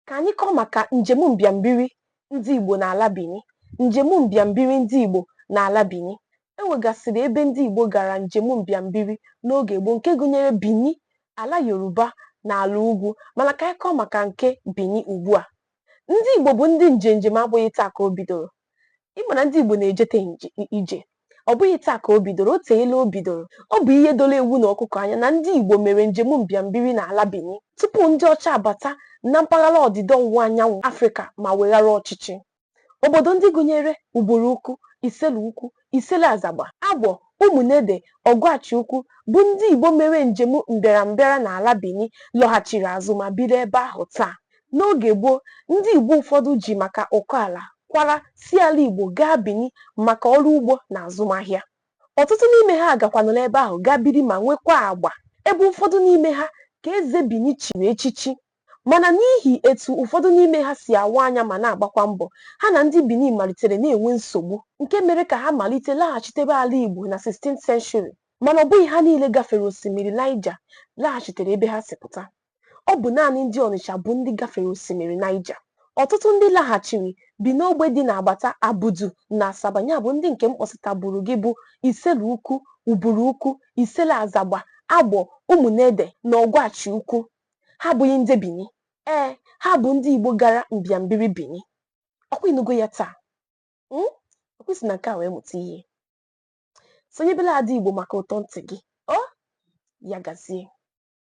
ka anyị kọọ maka njem mbịambiri ndị Igbo n'ala Bini njem mbịambiri ndị Igbo n'ala Bini e nwegasịrị ebe ndị Igbo gara njem mbịambiri n'oge gboo nke gụnyere Bini ala Yoruba na ala ugwu mana ka anyị kọọ maka nke Bini ugbu a ndị Igbo bụ ndị njenjem abụghị taa ka o bidoro ị ma na ndị Igbo na-ejete ije ọ bụghị taa ka o bidoro o teela o bidoro ọ bụ ihe doro ewu na ọkụkọ anya na ndị Igbo mere njem mbịambiri n'ala Bini tupu ndị ọcha abata na mpaghara ọdịda ọwụwa anyanwụ Afrịka ma weghara ọchịchị obodo ndị gụnyere Uburu Ukwu Isele Ukwu Isele Azagba, Agbọ, Ụmụnede, Ọgwachi Ukwu bụ ndị Igbo mere njem mbịarambịara n'ala Bini lọghachiri azụ ma biri ebe ahụ taa. N'oge gboo, ndị Igbo ụfọdụ ji maka ụkọ ala kwara si ala Igbo gaa Bini maka ọrụ ugbo na azụmahịa. Ọtụtụ n'ime ha gakwanụrụ ebe ahụ gaa biri ma nwekwaa agba, ebe ụfọdụ n'ime ha ka eze Bini chiri echichi. Mana n'ihi etu ụfọdụ n'ime ha si awa anya ma na-agbakwa mbọ, ha na ndị Bini malitere na-enwe nsogbu, nke mere ka ha malite laghachitebe ala Igbo na 16th century. Mana ọ bụghị ha niile gafere osimiri Naịja laghachitere ebe ha si pụta. Ọ bụ naanị ndị Ọnịcha bụ ndị gafere osimiri Naịja. Ọtụtụ ndị laghachiri bi n'ogbe dị n'agbata Abudu na Asaba ya bụ ndị nke m kpọsịtaburu gị bụ Isele Ukwu, Uburu Ukwu, Isele Azagba, Agbọ, Ụmụnede na Ọgwachi Ukwu. ha abụghị ndị Bini ee ha bụ ndị Igbo gara mbịambiri Bini ọ kwa ị nụgo ya taa hmm? ọ kwa i si na nke a wee mụta ihe sonyebela Ada Igbo maka ụtọ ntị gị o ya gazie